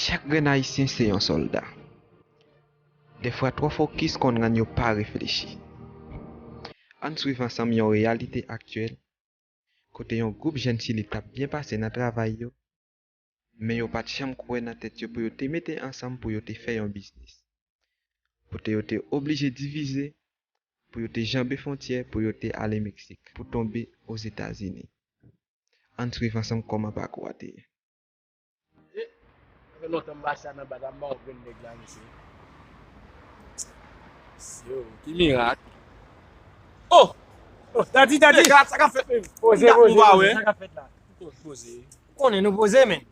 Chak grenn ayisyen se yon solda. Defwa twò fokis konn rann yo pa reflechi. Ann swiv ansanm yon reyalite aktyèl kote yon gwoup jèn chili tap byen pase nan travay yo men yo pat janm kwè nan tèt yo pou yo te mete ansanm pou yo te fè yon biznis pou te yo te oblije divize pou yo te janbe fontyè pou yo te ale meksik pou tonbe ozetazini. Ann swiv ansanm kòman pakou a te ye. Mesye, sa fè lontan m pa chita nan bata m pa wè grenn nèg la mesye. Mesye o, ki mirak. O! O, Dadi, Dadi! Nèg la, sa k ap fèt menm? Poze, poze, poze, sa k ap fèt la? Poze, poze. Ou konnen nou poze menn.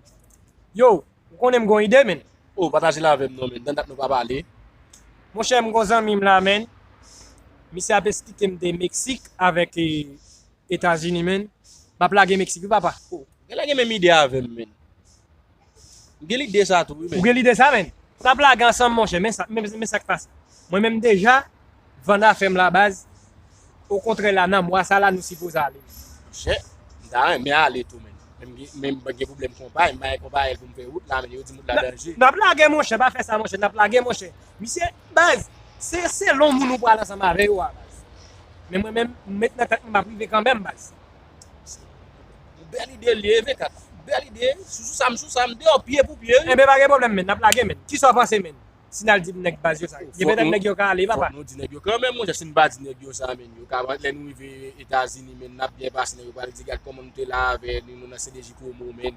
Yo, ou konnen m gon ide menn. O, pataje l avè m non menn, nan dat nou pa pale. Monchè, m gon zanmi m la menn. Misye ap esplike m de Meksik avèk. etazini menn map lage mexique wi papa. Oh gen lè gen menm ide avèm menn. M gen lide sa tou wi menn. Ou gen lide sa menn. Nap lage ansanm monchè men sa men sa k pase mwen menm m deja vann afèm la baz okontrè la nan mwa sa la nou sipoze ale menn. Monchè m ta renmen ale tou menn men m gen pwoblèm konpay m pa gen konpayèl pou m fè wout la menn yo di m wout la danje. Nap lage monchè pa fè sa monchè nap lage monchè misye Baz, se selon moun ou pral ansanm avè yo a baz. Men mwen menm, m met nan tèt mwen m ap rive kanmenm baz. Se yon bèl ide li ye vre kaka. Bèl ide, sou sou sa m sou sa, m deyò pye pou pye wi. Enben pa gen pwoblèm menn, n ap lage menn. Kisa w panse menn, si n al di nèg baz yo sa? Gen petèt nèg yo ka ale papa. Fòk nou di nèg yo kanmenm monchè, si n pa di nèg yo sa menn, yo ka lè nou rive Etazini menn n ap byen pase menn yo pral di gad kòman nou te la avè nou nan CDJPromo menn.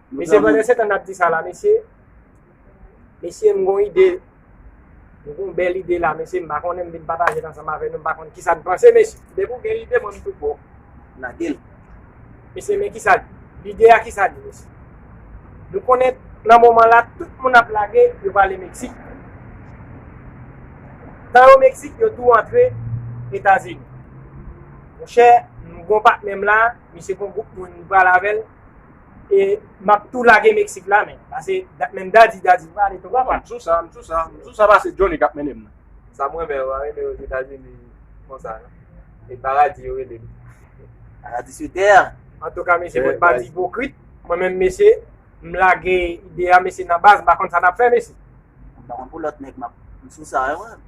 Mesye pandan setan nap di sa la mesye Mesye m gon ide M gon bèl ide la mesye m pa konnen m vin patajel ansanm avè nou m pa konn kisa n panse mesye. Depi w gen lide mwen m tou bon Lage l. Mesye men kisa lide a kisa di mesye Nou konnen nan moman la tout moun ap lage yo prale Meksik Tan yo Meksik yo tou antre Etazini Monchè m gon patnè m la misye gon gwoup moun li pral avè l E map tou lage Mexique la menm. Pase menm Daddy, Daddy m prale tonton pam. M sou sa, m sou sa, m sou sa pase Johnny kap mennen m nan. Sa m renmen yo anime yo Etazini konsa non. E paradi yo rele li. Paradi sou tè a. Antouka mesye mwen pa di ipokrit. Mwen menm mesye m lage ide a mesye nan baz m pa konn sa nap fè mesye. M pa konn pou lòt nèg m sou sa yo menm.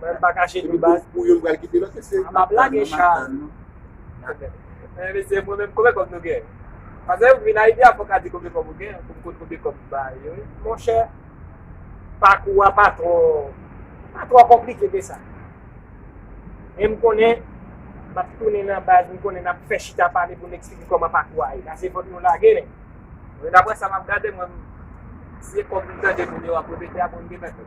Mwen pa kache di baz. Pou yo pral kite lòt mesye. Map tann nou map tann nou. Men mesye mwen menm konbyen kòb nou gen? Pase ou vin Ayiti a fòk ka di konbyen kòb ou gen pou m konn konbyen kòb m ba yo wi. Monchè pakou a pa twò pa twò konplike ke sa. Men m konnen map tounen nan baz m konnen nap fè chita pale pou n eksplike kòman pakou a ye. Sa se fòk nou lage nèg. Daprè sa map gade mwen m se kòb m tande moun yo ap repete a bon m gen mèt.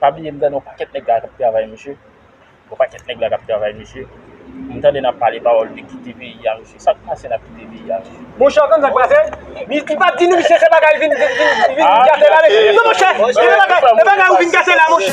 Pa bliye m tande yon pakèt nèg la k ap travay mesye, yon pakèt nèg la k ap travay mesye. M tande n ap pale pawòl de kite peyi a mesye. Sa k pase n ap kite peyi a mesye? Monchè w konn sa k pase? Li pa t di nou misye se bagay li vin kase la mesye. Non monchè, e bagay ou vin kase la monchè.